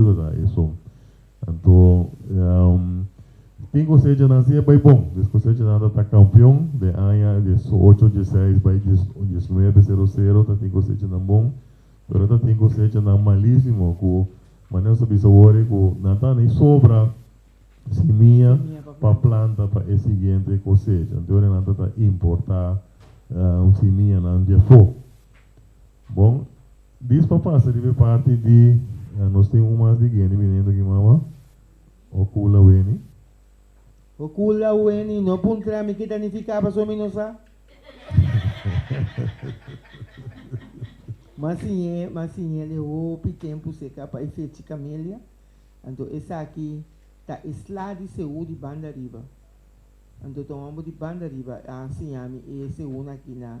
Verdad eso. Anto tin cosechanan si e bay bon. Des cosechanan ta ta campeon den aña diesocho dieseis bay diesnuebe cero cero ta tin cosechanan bon pero ta tin cosechanan malisimo cu manera nos a bisa awor cu nan ta ni sobra simia pa planta pa e siguiente cosecha anto awor nan ta ta importa simianan diafo bon. Dis pa pasa riba e parti di Nos tin un mas di Gueni biniendo aki mama o Kula weni. O Kula weni no puntra mi kita nifica paso mi no sa. Mas siñe mas siñe le hopi tempu seca pa e fechi camelia anto esaki ta e sla di Seú di banda riba anto toma bo di banda riba a siñami e Seú na aki na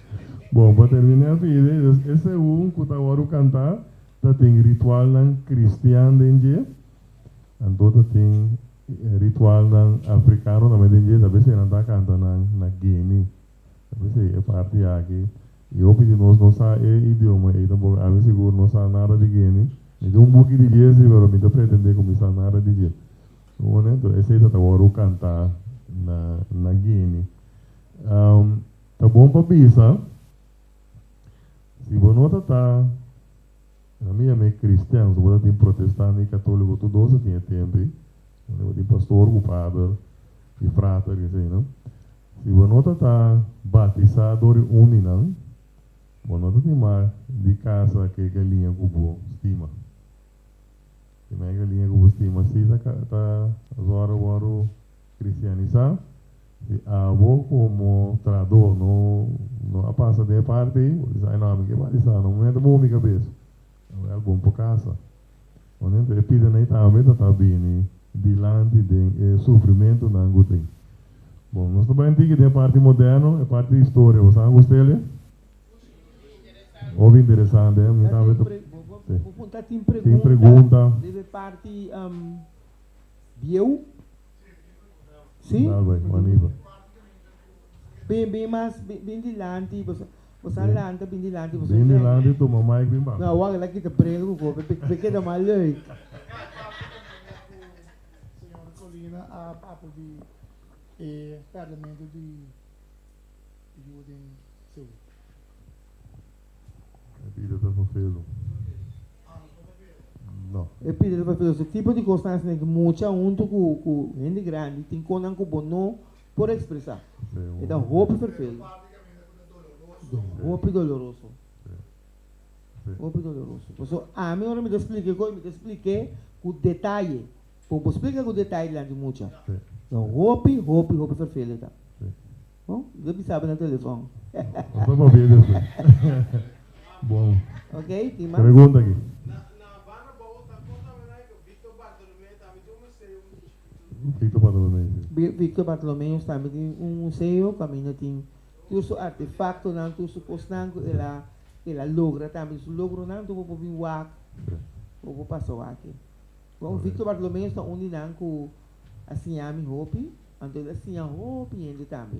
Bon, pa terminá Fide, dus e segun ku ta wòrdu kantá ta tin ritualnan kristian den dje, anto ta tin ritualnan afrikano tambe den dje, tal bes ei nan ta kanta nan na Geni, tal bes ei e parti aki, i hopi di nos no sa e idioma ei tampoco, ami sigur no sa nada di Geni, mi tin un buki di dje si pero mi ta pretendé ku mi sa nada di dje, mi honesto, esei ta ta wòrdu kantá na Geni. Ta bon pa bisa, Si bo no ta ta, na mi yam'é kristian, so bo ta tin protestante i katóliko tur dos ta tin e tempe, unda bo tin pastor ku pader i frater i asina. Si bo no ta ta batisá dor di uninan, bo no ta tin mak di kasa ku e galiña ku bo stima. Tin mak e galiña ku bo stima si ta ta, asohora bo a wòrdu. Kristianisá, si abo komo traadó no no a pasa den e parti ei, bo bisa, Aino, ami ke batisá no momento bo mi kabes, a bai algun pa kasa. Momento e pida nai tambe ta ta bini dilanti den e sufrimentunan ku tin. Bon, nos ta bai un tiki den e parti moderno, e parti di historia, bo sa angu Celia? Hopi interesante, eh? Mi tambe ta, tin pregunta, debe parti Bieu? Sí? Nalbay, Maniba. Bin, bin mas, bin, bin dilanti, bo sa, bo sa lanta bin dilanti, bo sa Bin enten. dilanti tuma mic bin basa. No, wak, e la kita bril ku kobe, be, be keda mas leuk. Señor Colina a papel di e Parlamento di yu den Seul. E pida ta fafelu. No. E pida ta fafelu. Se tipo di kos asina ku mucha huntu ku ku hende grandi tin konan ku bo no por ekspresá. E ta hopi ferfelu. Hopi doloroso. Hopi doloroso. Pasobra ami ora mi ta splika e kos mi ta splik'e ku detaye. Por bo splica cu detaye dilanti di mucha ta hopi, hopi, hopi fervele ta. Bo lo bisaba na telefon. Bo ta papia despues. Bon. Ok, tin mas? Pregunta aki. Na Barra Bobo ta con ta wena riba Victor Bartolomeo tambe tin un museo cu tin chiquito. Victor Bartolomeo si. Victor Bartolomeo tambe tin un museo cu aminda tin tur su artefactonan, tur su cosnan cu el a el a logra tambe. Su logronan tur bo por bin wak, bo por pasa wak aki. Kon Victor Bartolomeus ta un di nan ku a siña mi hopi, anto el a siña hopi hende tambe.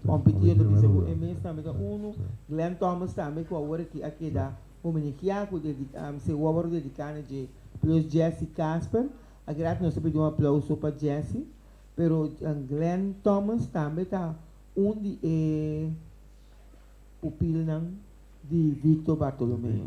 Hopi ti yo ta bisa ku e mes tambe ta unu. Glen Thomas tambe ku awor aki a keda hominigia ku dediká seu wòrdu a dediká na dje Ploos Jesse Casper. Akedat nos ta pidi un aplauso pa Jesse. Pero Glen Thomas tambe ta un di e pupilnan di Victor Bartolomeus.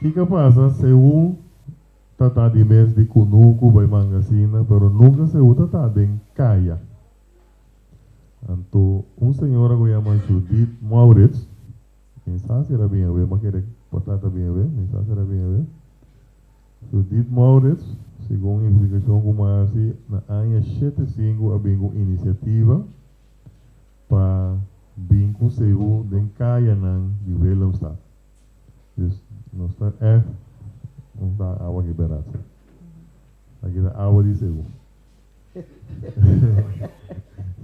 Kiko a pasa si e un ta ta di mes di kunuku bai manga sina pero nunka si e un ta ta den kaya? Anto un señora ku yama Judith Maurits, mi sa si el a bini awe, mi a kere pa trata e bini awe, mi sa si el a bini awe. Judith Maurits, segun un investigashon ku mi a hasi, na aña shete i sinku a bin ku un inisiativa pa bin ku si e un den kayanan di Willemstad. Nos ta F un ta awa ki berat sa. Aki ta awa di segu.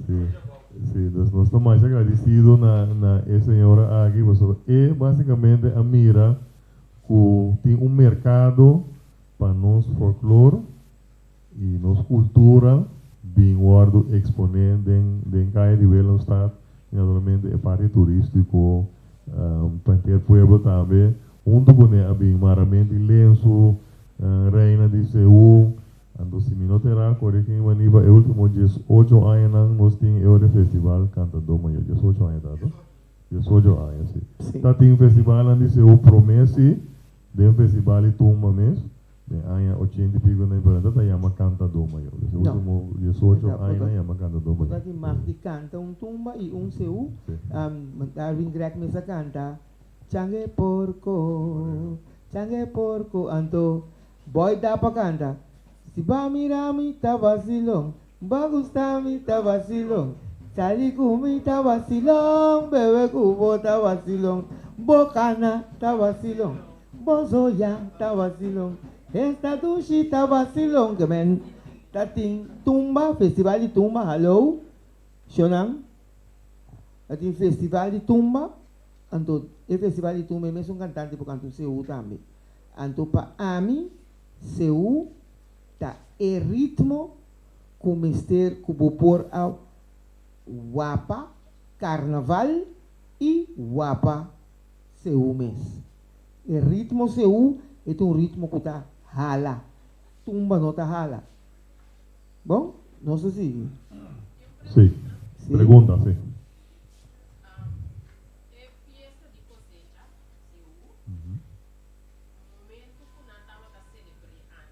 Si, si, dus nos ta masha agradisido na na e señora aki pasobra e básicamente a mira ku tin un merkado pa nos folklor. Y nos cultura bin wordo expone den den calle di Willemstad y naturalmente e parti turistico pa henter pueblo tambe hunto cu ne a bin Marramenti Lensu, Reina di Seun, anto si mi no te ra cori ken vani pa e ultimo dies ocho añanan nos tin e otro festival Cantador Mayor dies ocho aña ta to? Dies ocho aña si ta tin festivalnan di Seun prome si. Den festival e tumba mes, den aña ochenta i pico na Ibarantá ta yama Canta Doma yo. Desa último diesocho aña nan yama Canta Doma yo. Taki mas di canta un tumba y un seú. Darwin Grech mes a canta Chang'é porco, chang'é porco anto boy dapa canta Si ba mira mi ta vacilon. Bo gusta mi ta vacilon Sali cu mi ta vacilon Bebe cu bo ta vacilon Bo cana ta vacilon Bo zoya ta vacilon Esta dushi ta vacilon Que men ta tin tumba Festival di tumba Hallo Shonan Ta tin festival di tumba Anto e festival di tumba E mesun cantante por canta un Sehu tambe Anto pa ami Sehu ta e ritmo ku mester ku bo por a wapa karnaval i wapa sehu mes. E ritmo sehu e ta un ritmo ku ta hala, tumba no ta hala. Bon, nos ta sigui. Sí, pregunta sí.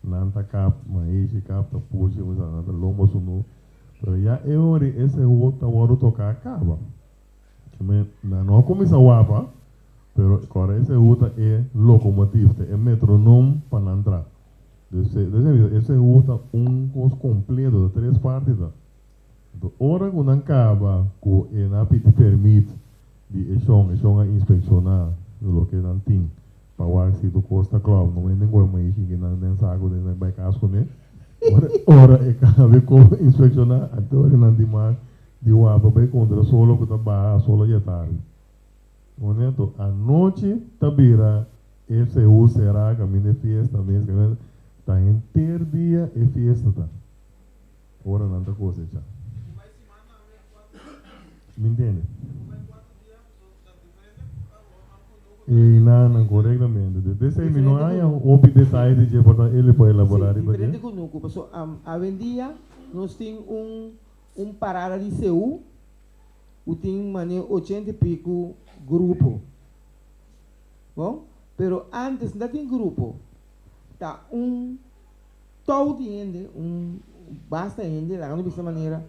nan ta kap maishi kap ta pushi mi sa nan ta lombo su nu pero ya e ora di e sehu ta wòrdu toka a kaba ki mi nan no a kuminsá wapa pero kòrda e sehu ta e lokomotiv ta e metronom pa nan tra dus ta bisa e sehu ta un kos kompleto ta tres parti ta Enton ora ku nan kaba ku e na pidi pèrmit di e shon, e shon a inspekshoná loke nan tin pa wak si tur kos ta klò. Normalmente nan kòrda mei shinki nan den sa ku nan bai kas kuné. Ora ora e kaba e kos a inspekshoná a dore nan di mar di wak pa bai kontra solo ku ta baha, a solo ya tardi. Kuné? To anochi ta bira e sehu será kaminda e fiesta mes kaminda ta henter dia e fiesta ta. ora nan ta kosechá. Mi ntende? E nan nan korektamente dje. P'esei mi no haña hopi detaye di dje por ta el e por elaborá riba dje. Diferente ku nuku, paso awendia nos tin un un parada di CU ku tin mane ochenta i piku grupo. Bon, pero ántes no ta tin grupo, ta un. Tou di hende, un basta hende, laga no bisa manera,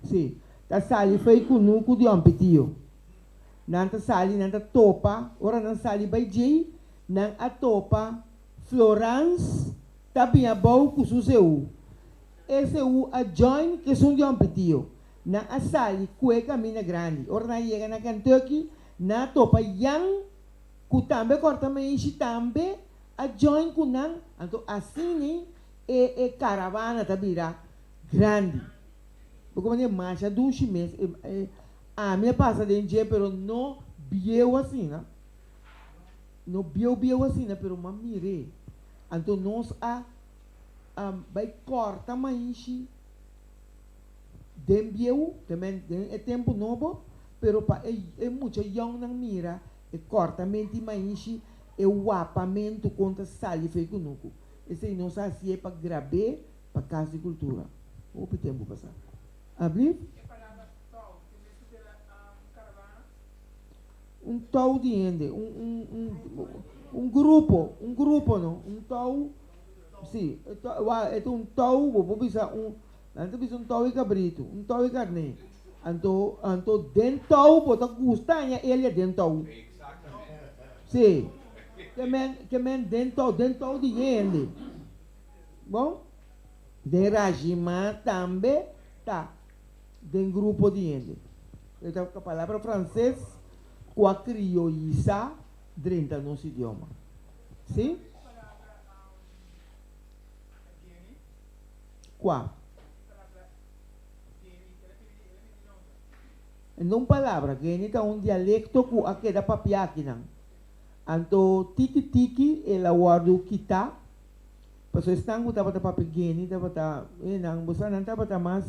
sí, ta sali fei ku nu ku Dion Pitiu. Nan ta sali, nan ta topa, ora nan sali bai djei, nan a topa Florans ta bin abou ku su seú. E seú a join kesun Dion Pitiu. Nan a sali kue kaminda grandi. Ora nan a yega na Kentucky, nan a topa Jan, ku tambe kòrta meishi tambe. a join cu nan, anto asine e e caravana ta bira grandi. Bo con e marcha dushi mes e e ami a pasa den dje pero no bieu asina, no bieu bieu asina pero m'a mir'e. Anto nos a a bay corta maishi den bieu, te men den e tempo nobo, pero pa e e mucha youngnan mira. E cortamente y mainshi e wapamento con ta sali fe cu nucu. Esey nos a hacié pa grabé pa Cas di Cultura hopi tempo pasá. Ablief. E palabra tou tin mester bira um caravaan? Un tou di hende, un un un un grupo, un grupo no, un tou, si, e tou e ta un tou bo por bisa un. Nan ta bisa un tou i kabritu, un tou i karné. Anto, anto den tou bo ta gusta haña elia den tou. Sí. Ke men, ke men den tou, den tou di hende. Bon? Den rajima tambe ta den grupo di hende. E ta ka palabra franses ku a krioyisá drenta nos idioma. Sí. Kua? En un palabra, Geni ta un dialekto ku a keda papiakinan. Anto tiki tiki el a wòrdu kitá. Paso esnan ku tabata papia Geni tabata, e nan bo sa nan tabata mas,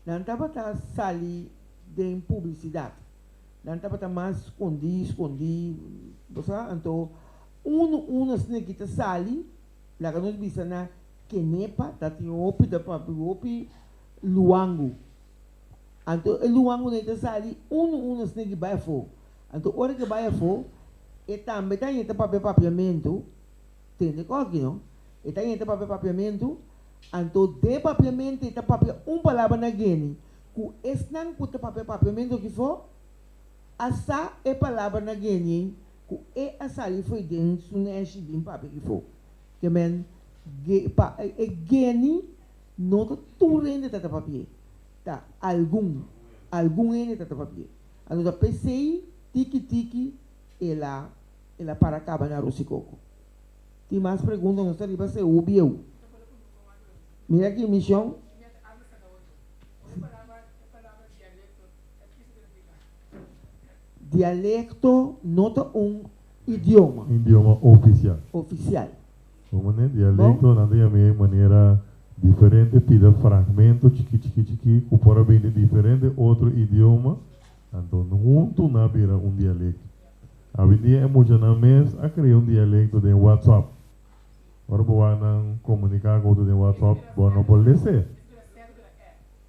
nan tabata sali den publisidat. Nan tabata mas skondí skondí, bo sa. Anto unu unu esneki ta sali, laga nos bisa na. Kenepa ta tin hopi ta papri hopi luangu. Anto e luangunan ta sali unu unu esnan di bai afo. Anto ora ke bai afo e tambe ta yenta papia papiamentu, tende kos aki no, e ta yenta papia papiamentu, anto den papiamento e ta papia un palabra na Gueni ku esnan ku ta papia papiamentu aki fo a sa e palabra na Gueni ei ku e a sali fo'i den su neshi den papia aki fo. Ke men ge pa e geni no ta tur hende ta ta papi'é, ta algun, algun hende ta ta papi'é. Anto ta pesei tiki tiki el a el a para kaba na aros i koko. Tin mas pregunta nos ta riba se hopi eu. Mira aki mishon. Dialekto no ta un. Idioma. Idioma ofisial. Ofisial. Bo mane dialecto nan ta yam'é manera diferente pida fragmento chikí chikí chikí ku por a bini diferente otro idioma anto huntu nan a bira un dialecto. Awendia e muchanan mes a krea un dialecto den WhatsApp. Ora bo wak nan komunika ku otro den WhatsApp bo no por lese.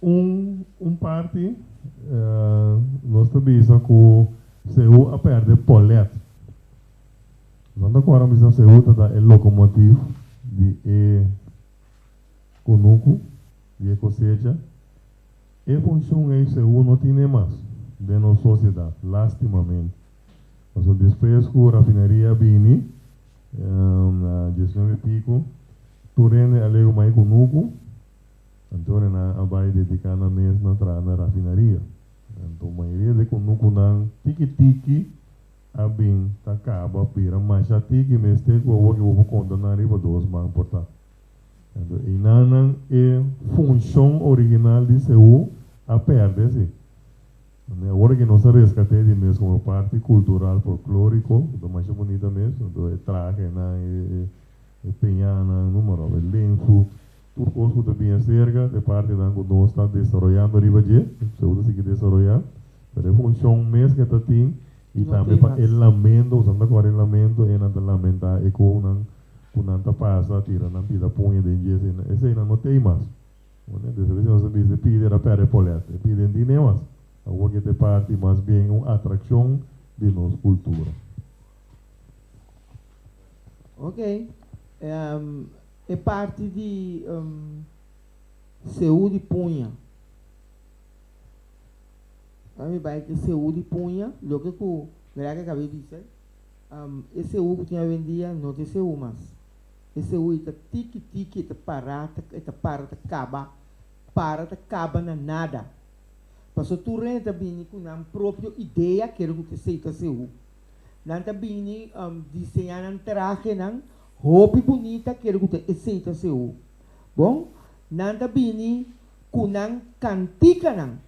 Un un parti nos ta bisa ku Seú a pèrdè Pòlèt. Esnan ta kòrda mi sa Seú ta da e lokomotiv di e kunuku, di e kosecha. E funshun ei Seú no tin e mas den nos sosiedat, lástimamente. Pasobra despues ku rafineria a bini na diesnuebe i piku tur hende a legu mai kunuku. Anto nan a bai dediká nan mes na traha na rafinaria. Anto mayoria di e kunukunan tiki tiki a bin ta kaba bira masha tiki mester ku awor ke bo por konta nan riba dos man por ta. Anto einan nan e funshon original di Seú a pèrdè si. Anto awor ke nos ta reskat'é di mes komo e parti kultural folklóriko ku ta masha bunita mes. Anto e traha ke nan e e peñanan, número, e lensu, tur kos ku ta bin aserka ta e partinan ku nos ta desaroyando riba dje, ku seu ta sigui desaroyá, pero e funshon mes ke ta tin i tambe pa e lamento, ku esnan ta kore lamento, e nan ta lamentá e kounan ku nan ta pasa, tira nan pida puña den dje, esei, eseinan no t'ei mas. Oné? Des a bes nos a bisa e pider a pèrdè e polèt, e pider n'tin n'ei mas. Awor ke ta e parti mas bien un atrakshon di nos kultura. Ok, e parti di seú di puña. Ora mi bai ku e seú di puña loke ku Greg a kab'é bisa e seú ku tin awendia no ta e seú mas. E seú i ta tiki tiki i ta pará i ta para ta kaba, para ta kaba na nada. Pasobra tur hende ta bini ku nan propio idea kere ku ta seú. Nan ta bini um diseñá nan trahenan hopi bunita kere ku ta esei ta seu. Bon, nan ta bini ku nan kantikanan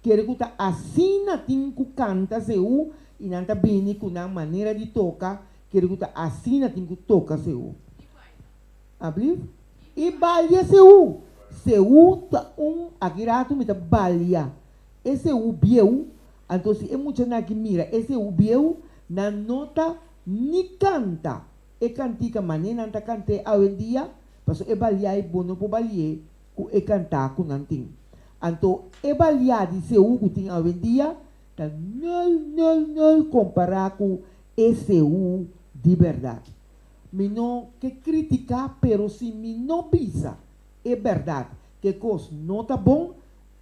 kere ku ta asina tin ku kanta seu i nan ta bini ku nan manera di toka kere ku ta asina tin ku toka seu. A blief. I balia seu. Seu ta un aki ratu mi ta balia. ese hu bieu, anto si e muchanan aki mira ese hu bieu, nan no ta ni kanta e kantika mané nan ta kant'é awendia, paso e baliái bo no por bali'é ku e kantá ku nan tin. Anto e baliá di Sehu ku tin awendia ta nul, nul, nul kompará ku e Sehu di bèrdat. Mi no ke kritiká, pero si mi no bisa e bèrdat ku e kos no ta bon,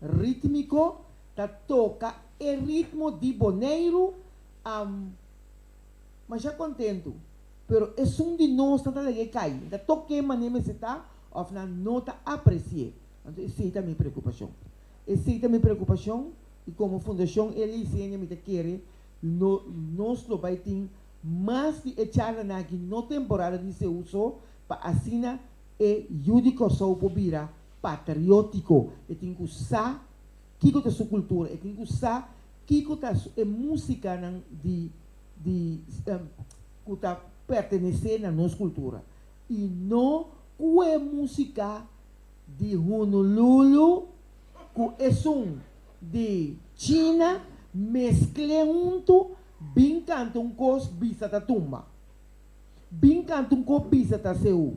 Rítmiko ta toka e ritmo di Boneiru am masha kontentu pero esun di nos nan ta lege kai nan ta tok ke mane mester ta of nan no ta apresié anto esei ta mi preokupashon esei ta mi preokupashon i komo fundashon Elizeendia mi ta kere lo nos lo bai tin mas di e charlanan aki no temporada di Seuso pa asina e Yu di Kòrsou por bira patriótiko, e tin ku sa kiko ta su kultura, e tin ku sa kiko ta e músikanan di di ku ta pertenesé na nos kultura i no ku e músika di Hunululu ku esun di China meskl'é huntu bin kanta un kos bisa ta tumba, bin kanta un kos bisa ta seú.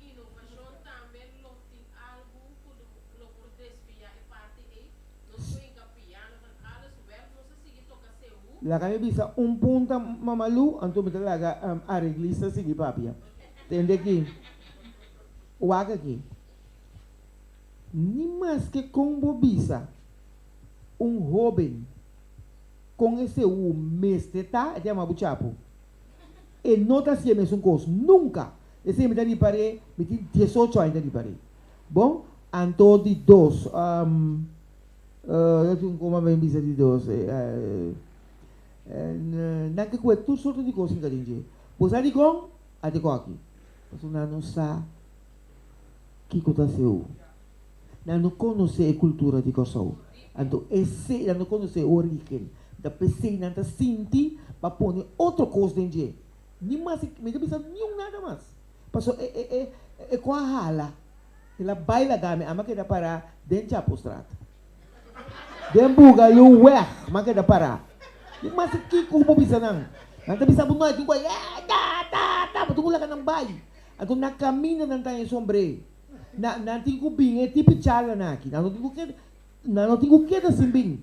Innovacion tambe lo tin algu cu lo por desvia e parti ey, nos por hinca piano en alles werk nos a sigui toca sehu. Laga mi bisa un punta Mamalu, anto mi ta laga areglista sigui papia. Tende aki, wak aki. Ni maske con bo bisa un hoben con e sehu mester ta, e ta yama bo chapu, e no ta haci'e mesun cos nunca. E sey mi ta ripar'é, mi tin dies ocho aña ta ripar'é. Bon, anto di dos, ta tin un koma mi bisa di dos, nan ke kue tur sorto di kos hinka den dje. Bo sa dikon? A te kòki. Pasobra nan no sa kiko ta seu. Nan no konosé e kultura di Kòrsou. Anto e sey, nan no konosé e origen. Dapé esei nan ta sinti pa pone otro kos den dje. Ni mas i mi ta bisa niun nada mas. Paso e e e e koa hala. El a bai laga mi. Ama keda para den Chapostraat. Den buga yu weg ama keda para. Ni mas i kiko ku bo bisa nan. Nan ta bisa bo no algun koa e ta ta ta bo tin ku laga nan bai. Anto na kaminda nan ta haña sombre. Na nan tin ku bin e tipi charla nan aki. Nan no tin ku keda nan no tin ku keda sin bin.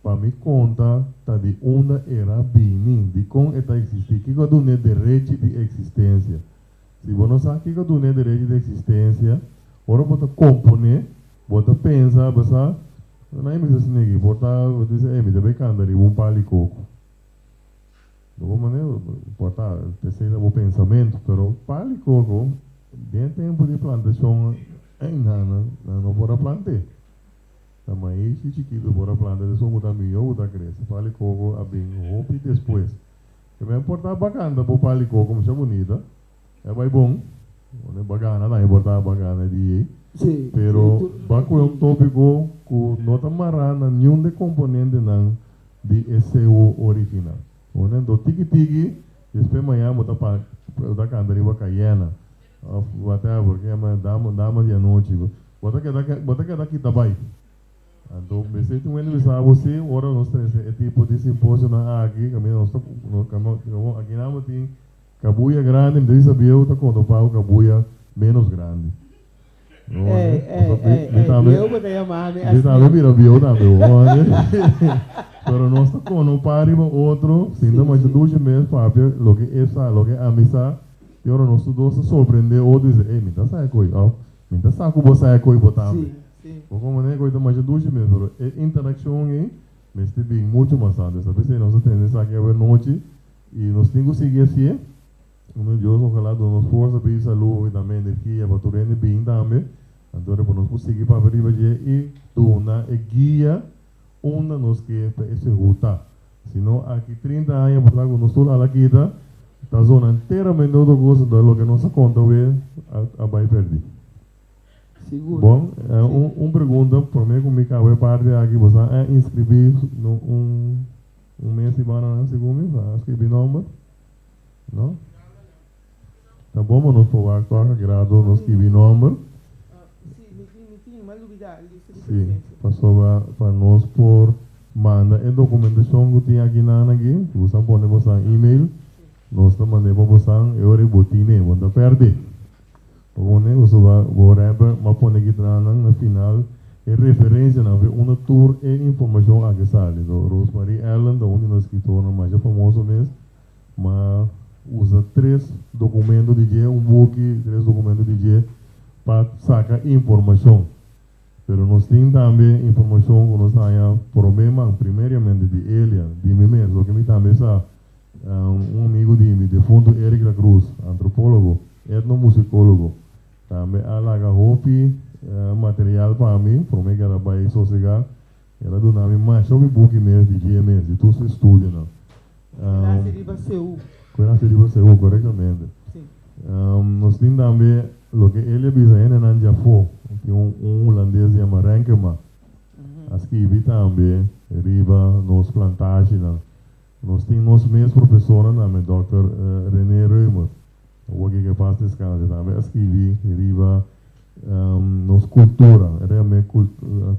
Pa mi conta ta di unda era a bini, di con e ta existi. Kico a dun'e derechi di existencia? Si bo no sa kico a dun'e derechi di existencia, ora bo ta componé, bo ta pensa, bo sa, Nan a bisa asina aki, por ta, bo ta bisa, ey, mi ta bay canta riba un pali coco. Bo hopi manera, por ta, esey ta bo pensamento, pero pali coco, den e tempo di plantacion, ey, nan, nan no por a plant'e. Ta maishi chikitu por a planta deso bo ta miyo bo ta krese pali koko a bin hopi despues ke men por ta bakanda bo pali koko masha bunita e bai bon one bagana tambe por ta bagana di e pero ba koe un topiko ku no ta mara na niun de komponentenan di e sewo original one anto tiki tiki despues mañan bo ta pa bo ta kanta riba kayena of whatever ke men dama dama di anochi Bo ta keda bo ta keda kita bai. Anto mester tin un hende bisa abo si ora nos ta hesi e tipo di simposionan aki kaminda nos ta kaminda aki nan bo tin kabuya grandi mi ta bisa bieu ta konta un pagu kabuya menos grandi Ey ey ey ey bieu bo ta yama mi asi mi tambe mira bieu tambe bo hoor pero nos ta kono un par riba otro sinta masha dushi mes papia loke e sa loke e amisa y ora nos tur dos ta sorprende otro y bisa ey mi ta sa e koyo of Mi ta sa ku bo sa e koi bo tambe. Bo kon manera e koi ta masha dushi mes, pero e interakshon ei mester bin muchu mas antes. Esaki ta p'esei nos a tende esaki awernochi i nos tin ku sigui hasié. Anto Dios ojalá duna nos forsa p'e salú i dame energia pa tur hende bin tambe. Anto ora por nos por sigui papia riba dje i duna e guia unda nos ke ta e sehu ta. Si no aki trinta aña pasaha ku nos tur al a kita, ta zona enteramente otro kosa, entonces loke nos a konta awe a bai perdi. Sigur. Bon, un un pregunta, prome ku mi kaba e parti aki pasaha a inskribí no un un mes di bounanan segun mi, pasaha a skirbi nòmber? No. Ta bon bo nos por wak tok a grado nos skibi nomber. Si, pasobra pa nos por manda e dokumentashon ku tin akinan aki, si bo sa pone bosan email, nos ta mand'é pa bosan e ora ku bo tin'é, bo no ta pèrdè. Bo ta pone pasobra bo rèper m'a pone ki tranan na final e referensianan awe unda tur e informashon aki sali. So, Rosemarie Allen ta un di nos skitornan masha famoso mes, ma usa tres dokumento di dje, un boki, tres dokumento di dje pa saka informashon. Pero nos tin tambe informashon ku nos ta haña promé man, primeriamente di Elia, di mi mes, pasobra mi tambe sa un amigu di mi defuntu Eric Lacruz, antropólogo, etnomusikólogo, tambe a laga hopi material pa mi, promé kera bai sosegá. El a duna mi masha mi buki mes di GMS, di tur su estudionan. Cu el haci riba CU. Cu el haci riba CU, corectamente. Nos tin tambe loke Elia bisa hendenan dje afo. Tin un un Hulandes yama Renkema a skibi tambe riba nos plantashinan. Nos tin nos mes profesornan tambe Dòkter Renee Reumer, awor ke ke pas ta escala te tambe a scribi riba nos cultura, e ta cambe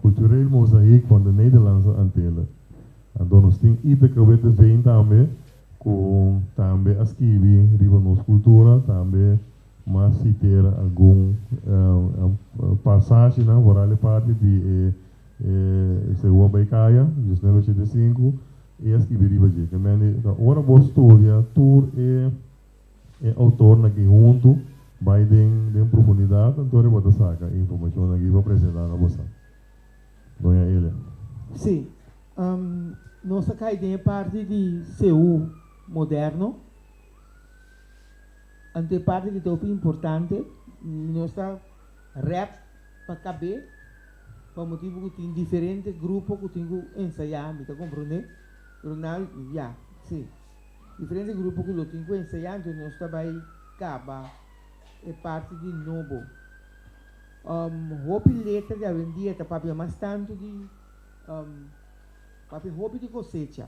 cultureel mozaïek van de Nederlandse Antillen. Anto nos tin Iteke Witteveen tambe cu tambe a scribi riba nos cultura tambe. Mas sitera algun pasashinan foral e parti di e Segua Bai Kaya, diecinuebe shete i sinku, i a skibi riba dje. Ke men di, ora bo studia tur e outornan aki huntu, bai den profundidat, anto riba bo ta saka e informashonnan aki pa presentá na boso. Doña Elia. Sí. Nos a kai den e parti di Seú moderno. Ante e parti ki ta hopi importante, nos ta rep pa kab'é pa motibu ku tin diferente grupo ku tin ku ensayá, mi ta komprondé? Ronald, Ya, sí. Diferente grupo ku lo tin ku ensayá, anto nos ta bai kaba e parti di nobo. Hopi letra di awendia ta papia mas tantu di papia hopi di kosecha.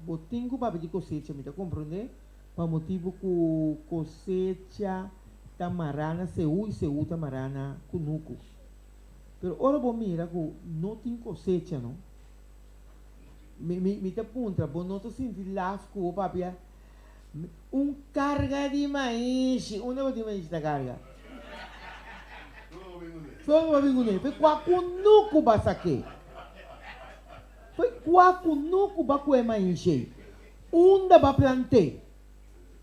Bo tin ku papia di kosecha, mi ta komprondé? pa motibu ku kosecha ta mará na seú i seú ta mará na kunuku. Pero ora bo mira ku no tin kosecha no, mi, mi, mi ta puntra, bo no ta sinti las ku bo papia un karga di maishi? Unda bo tin maishi ta karga? Todo bo a bin ku ne. P'e kua kunuku basa ke? P'e kua kunuku ba kue maishi ei? Unda bo a plant'é?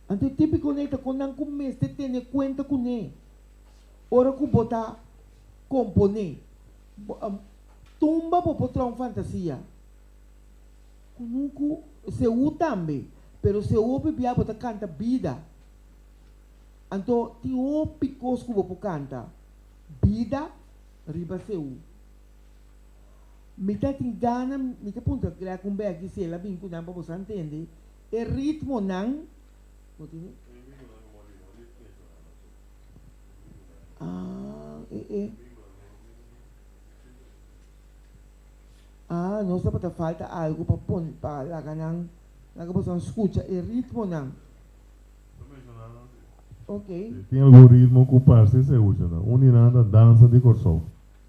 Anto e típiko nei ta kon nan ku mester tene kuenta kuné ora ku bo ta komponé. Bo a tumba bo potròn fantasia ku nun ku Seú tambe, pero Seú a pibiá bo ta kanta bida. Anto tin hopi kos ku bo por kanta bida riba Seú. Mi ta tin gana mi ta puntra Greg un bèk Gisela bin ku nan pa boso a ntende e ritmonan. Ah, nos tabata falta algu pa pon pa laga nan laga boso nan skucha e ritmonan. Oke. Tin algun ritmo ku parse se usa nan. Un di nan ta dansa di Kòrsou.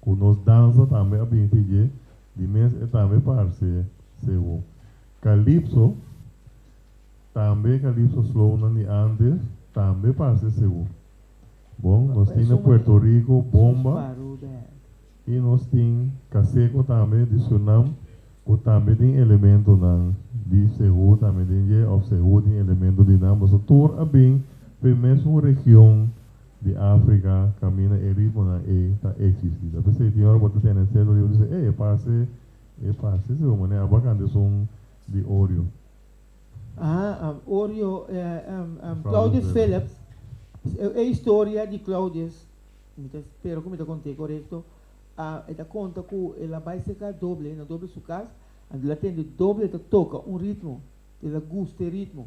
Cu nos danza tambe a bini te dje di mes e tambe parce sewo. Calypso, tambe e calypso slownan di antes, tambe parce sewo. Bon, nos tin na Puerto Rico bomba y nos tin caseco tambe di Surinam cu tambe tin elementonan di sewo tambe den dje of sewo tin elemento di nan. Boso tur a bin primer su region. di Africa camina e ritmonan ey ta existi ta p'esey tin ora bo ta tene celo riba dice ey e parse e parse si bo mane aba canta esun di Orjo. Aha Orjo Claudius Philips e historia di Claudius mi ta spera cu mi ta contae corecto e ta conta cu el a bay seca doble na doble su cas anto el a tende doble el ta toca un ritmo el a gusta e ritmo.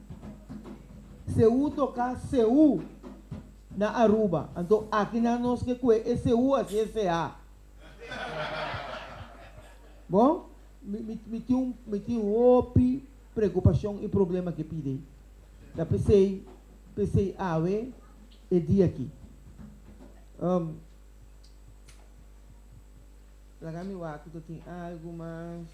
Seú toká Seú na Aruba. Anto aki nan nos ke kue e Seú a sie Seá. Bon, mi mi mi tin un mi tin hopi preokupashon i problema ke pide. Ta p'esei p'esei awe e di aki um laga mi wak ku ta tin algu mas.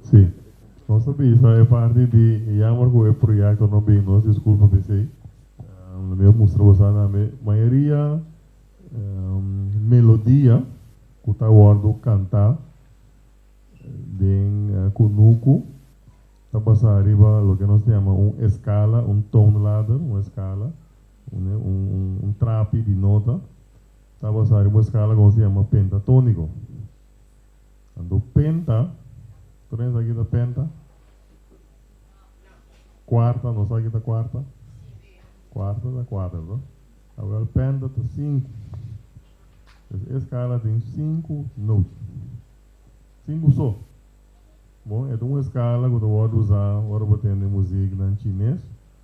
Si, nos ta bisa e parti di e yamber ku e proyekto no bin, nos diskulpa p'esei. Lo mi a mustra boso a nambe, mayoria melodia ku ta wòrdu kantá den kunuku ta basá riba loke nos ta yama un eskala, un tone ladder, un eskala. Un trapi di nota ta basá riba un skala ku nos ta yama pentatóniko. Anto penta, tur hende sa ki ta penta? Kuarta, no sa ki ta kuarta? Kuarta ta kuater to. Awel penta ta sinku. Pues e skala tin sinku note. Sinku so. Bon, e ta un skala ku ta wòrdu usá ora bo tene musiknan chines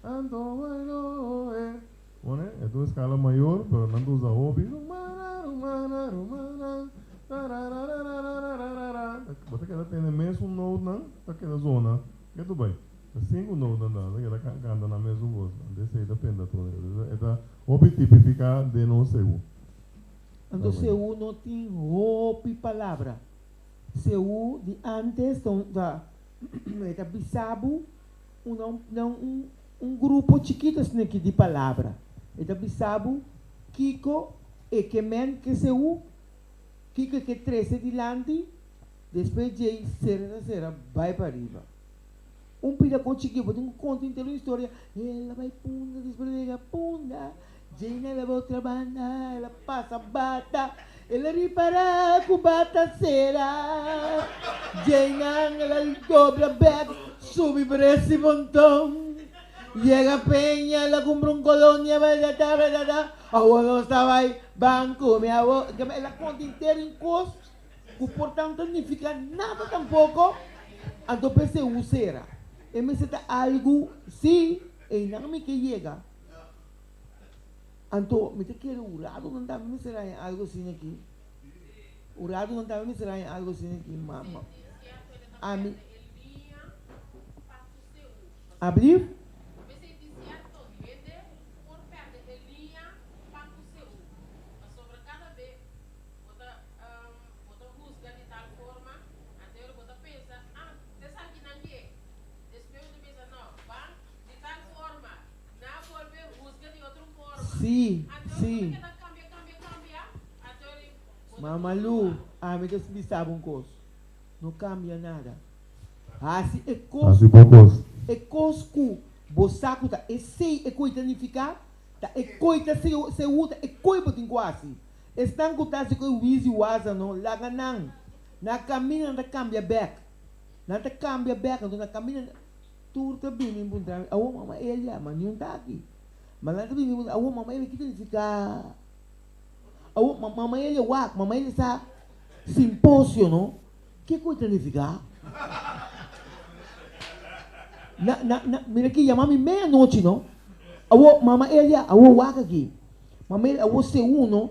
Tanto bueno e Pone e dos escala mayor pero nan ta usa hopi Rumana rumana rumana Tarararararararara Bo ta keda tene mesun note nan ta keda zona ke tu bay ta sinku note nan ta ta keda canta na mesun cos nan ta esey ta penda tur e ta hopi tipifica den nos sehu Anto sehu no tin hopi palabra sehu di antes ta un ta e ta bisa bo. Una un grupo chikito esne ki di palabra. E ta bisa bo kiko e ke men kese u, kiko e ke trese dilanti, despues djei sera ta sera bai pa riba. Un pida kochi ki bo tin ku konta henter un historia, el a bai punda, despues el a yega punda, Jane a laba otra banda, el a pasa bata, el a ripara ku bata sera. Jaynan el a dobla bek, subi pa resi ponton, yega peña, el a kumpra un kolonia baidada baidada, awo nos ta bai ban kume awo, kamba el a konta henter un kos ku por tanto no nifiká nada tampoko, anto p'esei hu sera? E mester ta algu, si einan mi ke yega. Anto, mi ta kere un ratu nan tambe mi mester haña algu asina aki. Un ratu nan tambe mi mester haña algu asina aki. Abrir. Sí, sí. Mama Lu, ami ta bisaba un kos, no kambia nada. Hasi e kos ku bo e kos ku bo sa ku ta esei e ku ei ta nifiká, ta e ku ei ta seú, ta e ku ei bo tin ku hasi. Esnan ku ta hasi ku e wizi wasa no, laga nan. Nan a kaminda, nan ta kambia bèk. Nan ta kambia bèk, anto nan a kaminda. Tur ta bini puntrami, Awor mama e a yama? Niun ta aki. Ma nan ta bini puntra, Awor mama e a? Ki ta nifiká? Awor ma, mama e a ya wak? Mama e a ya sa? Simposio, no? Ke ku e ta nifiká? Na, na, na, mira ke yama mi meanochi, no? Awor mama e a ya? Awor wak aki. Mama e a ya, Awor seun, no?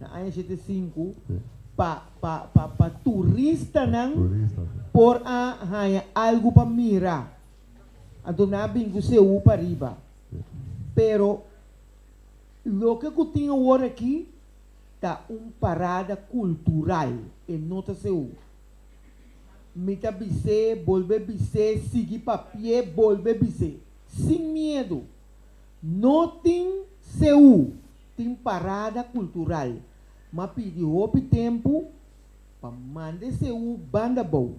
Na aña shete i sinku pa pa pa pa turistanan por a haña algu pa mira. Anto nan a bin ku seú pa riba. Pero loke ku tin awor aki ta un parada kultural, e no ta seú. Mi ta bis'é, bolbe bis'é, sigui pa pie, bolbe bis'é. Sin miedu. No tin seú Tin parada kultural, ma pidi hopi tempu pa manda e seú banda abou.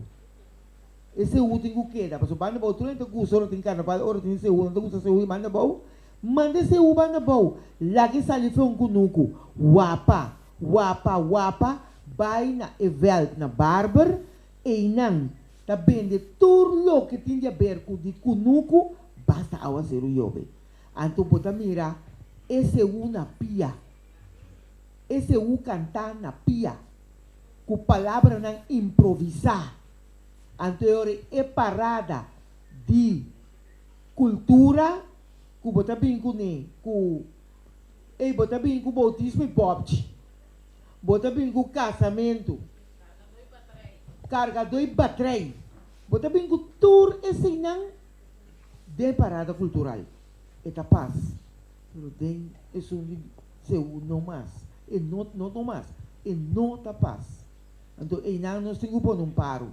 E seú tin ku keda, pasobra banda abou tur nan ta gusta ora tin karnaval, ora tin seú nan ta gusta seú i banda abou. Manda e seú banda abou, laga e sali fron ku nuku, wapa, wapa, wapa, bai na e vèlt, na barber, einan ta bende tur loke tin di aber ku di ku nuku, basta awa seru yobe. Anto bo ta mira Eseú na pia. Eseú kantá na pia ku palabranan improvisá. Anto e ora e parada di kultura ku bo ta bini kuné ku ei bo ta bini ku boutismo i bòpchi. Bo ta bini ku kasamentu. Kargadó i batrei. Bo ta bini ku tur eseinan Den parada kultural e ta pas pero den esun di Seú no mas, e no no no mas e no ta pas. Anto einan nos tin ku pone un paro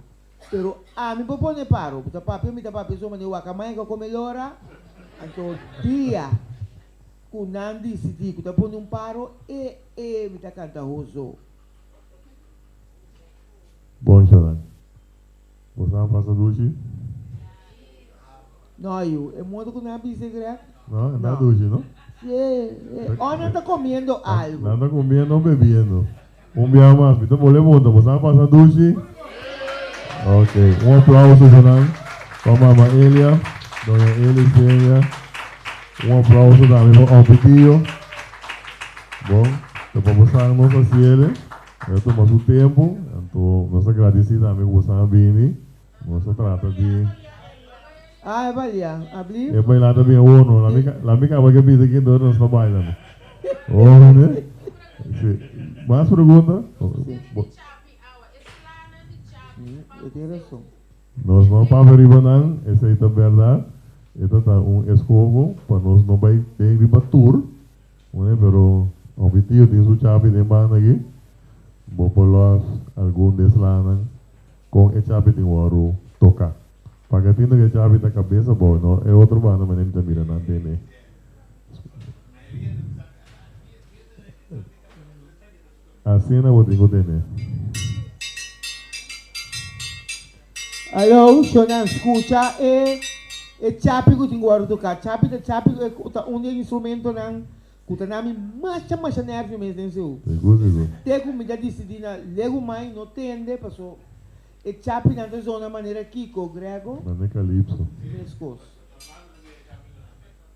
pero ami por pone paro bo ta papia mi ta papia so manera wakamaya ku a kome lora anto dia ku nan disidi ku ta pone un paro e e mi ta kanta ho zo. Bon Jonan. Bo sa pasa dushi? No ayu, e modo ku nan a bisa e grèt? No, e ta dushi no. Si e, e, òf nan ta komiendo algu. Nan ta komiendo òf bebiendo. Un biaha mas mi ta bol'é punta, bo sa pasa dushi? Ok, un aplauso pa nan, pa Mama Elia, Doña Elis Peña. Un aplauso tambe pa Òfi Tio. Bon, ta pa bo san nos a siele. E ta tuma su tempu, anto nos ta gradisí tambe ku boso a bini. Nos ta trata di. Ah, e baila, a bliv? E baila ta bien hono. La mi, la mi kaba ke bisa kin dor nos ta baila no. Hono ne? Si. Mas pregunta? E tin rason. Nos no a papia riba nan, esei ta bèrdat. E ta ta un eskoho pa nos no bai den riba tur. Oe, pero hopi tio tin su chapi den banda aki, bo por lòs algun di e slaanan kon e chapi tin wòru toká. Paga tin tok e chapi ta kabesa bou, no e otro banda manera mi ta mira nan tene. Asina bo tin cu tene. Aló, shonnan, scucha e e chapi cu tin cu worde toca. Chapi ta chapi e ta un di e instrumentonan cu ta na mi masha masha nervio mes den seu. Sigur, sigur. Te cu mi ta dicidi na legu mai no tende paso e chapinan ta zona manera kico, Grego? Mane calipso. Mescos.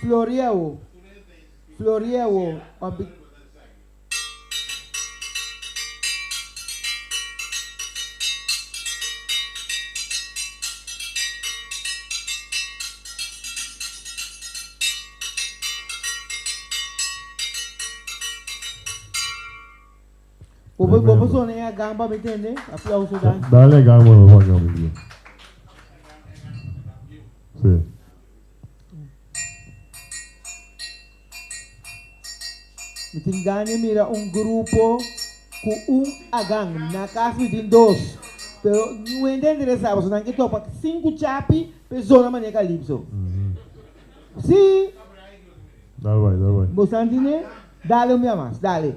Florieu Florieu pa bi. Popo popo sona ya gan pa mi tende aplauso dan. Dale gan mano pa gan mi bro. Si. Mi tin gan di mira un grupo cu un a gan. Na cas mi tin dos. Pero nuhende a interesa pasobra nan ke topa cinco chapi pe zona manera calipso. Si. Dal bay dal bay. Bo san tine. Dale un bia mas, dale.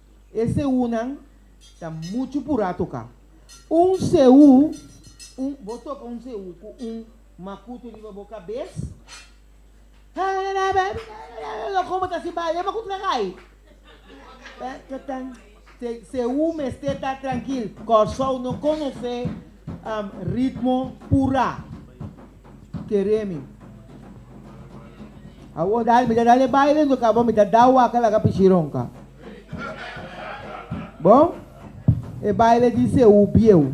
E seúnan ta muchu purá toká un seú. Un bo toka un seú ku un makutu riba bo kabes, lo komo ta si bal e makutu ta kai. Seú mester ta trankil. Kòrsou no konosé ritmo purá. keremi. Awor dale, mi ta dale baile anto kaba mi ta da waka laga pichi ronka. Bon, e baile di Seú bieu.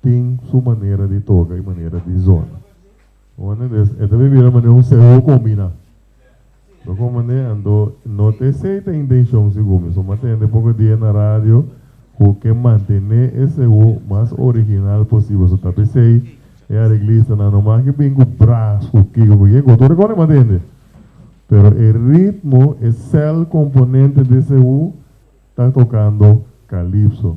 tin su manera di toka i manera di zona. Wone des, e ta bin bira manera un seho kombiná. Lo kon manera, anto no ta esei ta intenshon si Gumi, so m'a tende poko dia na radio ku ke mantené e seho mas original posibel. So ta p'esei e areglistanan no mas ke bin ku bras, ku kiko, ku yeko, tur e kos nan m'a tende. Pero e ritmo, e sèl komponente di seho ta tokando kalipso.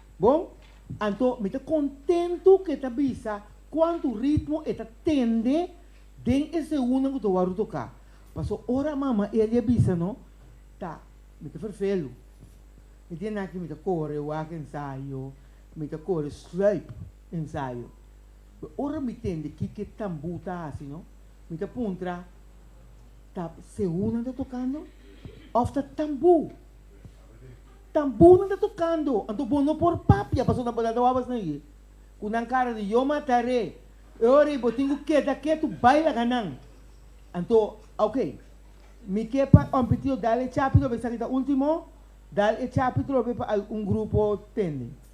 Bon, anto mi ta kontentu ku e ta bisa kuantu ritmo e ta tende den e segundonan ku ta wòrdu toká. Paso ora mama i a lia bisa no, ta mi ta ferfelu. E dia nan aki mi ta kore wak ensayo, mi ta kore sluip ensayo. Pero ora mi tende kiko tambú ta hasi no, mi ta puntra, Ta segundonan ta tokando òf ta tambú? Tan bo nan ta tokando, anto bo no por papia pasobra nan por dal tawabas na ye ku nan kara di yo matar'é. E ora ei bo tin ku keda ketu bai laga nan. Anto, ok, mi ke pa òmpitio dal e chapi trobe esaki ta ultimo, dal e chapi trobe pa algun grupo tende.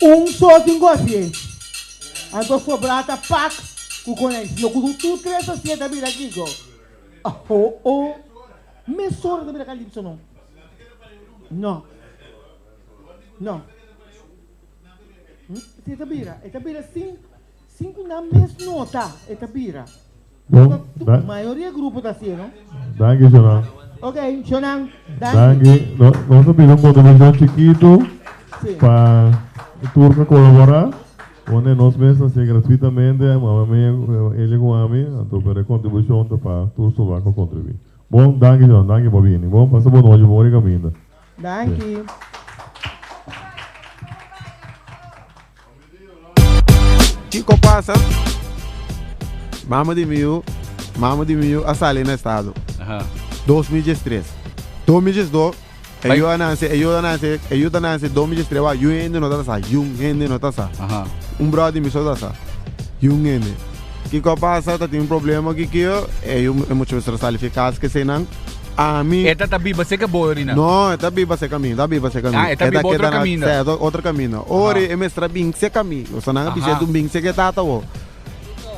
Un so tin ku hasi e. Anto sobra ta pak ku konai, sino ku su tur tres hasi e ta bira gigo. Aho o mes sobra ta bira kalipso no. No. No. Si e ta bira, e ta bira sin Sin ku nan mes nota e ta bira. Nota tu mayoria grupo ta hasié no. Danki Shonan. Ok Shonan danki. Danki nos a bira un kontribishon chikitu pa e tur ta kolaborá one nos mes ta hasié gratuitamente mama mia Elia ku ami anto pero e kontribushon ta pa tur soldá ku a kontribuí. Bon danki Shonan danki pa bini bon pasa bon nochi bon ori kaminda. Danki. Kiko pasa? Mama di miu, mama di miu a sali na estado. Dos mil dies tres. Dos mil dies dos, e yuda nan se, e yuda nan se, e yuda nan se dos mil dies tres wak yu hende no ta sa, yu hende no ta sa. Un brother di mi so ta sa, yu hende. Kiko a pasa? Ta tin un problema ki kio? Ey hu e mucha mester a sali fi cas ki eseinan. Ami. E ta ta biba seca boyo ri nan? No, e ta biba seca mi, e ta biba seca mi. Ah, e ta biba otro caminda. Sa, e ta otro caminda. Ori e mester a bin seca mi. Lo sa nan a bishi, e dun bin seca e tata bo.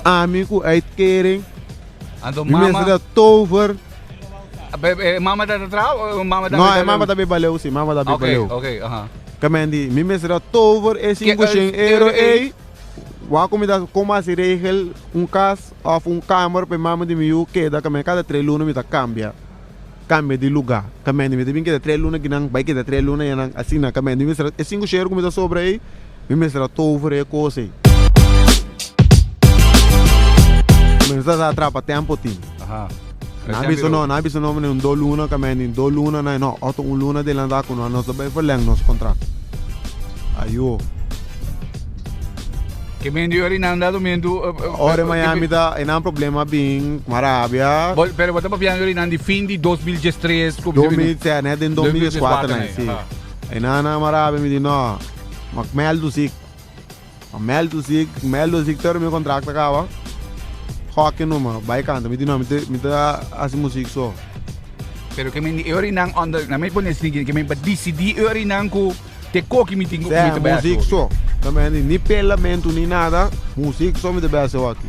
Ami cu uitkering, Anto mi mester mama, ta tover. be, be, e mama ta ta traha o e mama ta No, e mama ta biba leu, si, mama ta biba Oké, leu. oké, aha. Ka men di, mi mester ta tover e Ke, eh, sinku shen ero euro ey. ey. Wak ku mi ta kon basi regel un kas òf un kamer pa e mame di mi yu keda kaminda kada tres luna mi ta kambia kambia di lugá kaminda mi ta bin keda tres luna aki nan bai keda tres luna yanan asina kaminda mi mester e sinku shero ku mi ta sobra ei mi mester a tohu for e kos ei mi mester a trapa tempo tin. Nan a bisa no, nan a bisa no meneer un do luna kamendi, do luna nan no, oto un luna delanta ku no, nos ta bai verleng nos kontrakt. Ayo. Kemendi ora i nan da domentu. Ora Miami ta, e nan problema bin kuma Arabia. Bol, pero bo ta papiando ora i nan di fin di dos mil dies tres ku. Dos mil se, net den dos mil dies kuater nan, si. E nan na Arabia mi di no, mak mèl dusik. Con mel tu zic, mel do zic pero mi contract ta caba hockey no mas bay canta mi di no mi ta haci muziek so. Pero ke men di eur inan under na mi pone así ke men pa dicidi eur inan cu te coki mi tin cu mi ta bay haci hockey. Sea muziek so ta mi a di ni pelamento ni nada muziek so mi ta bay haci hockey.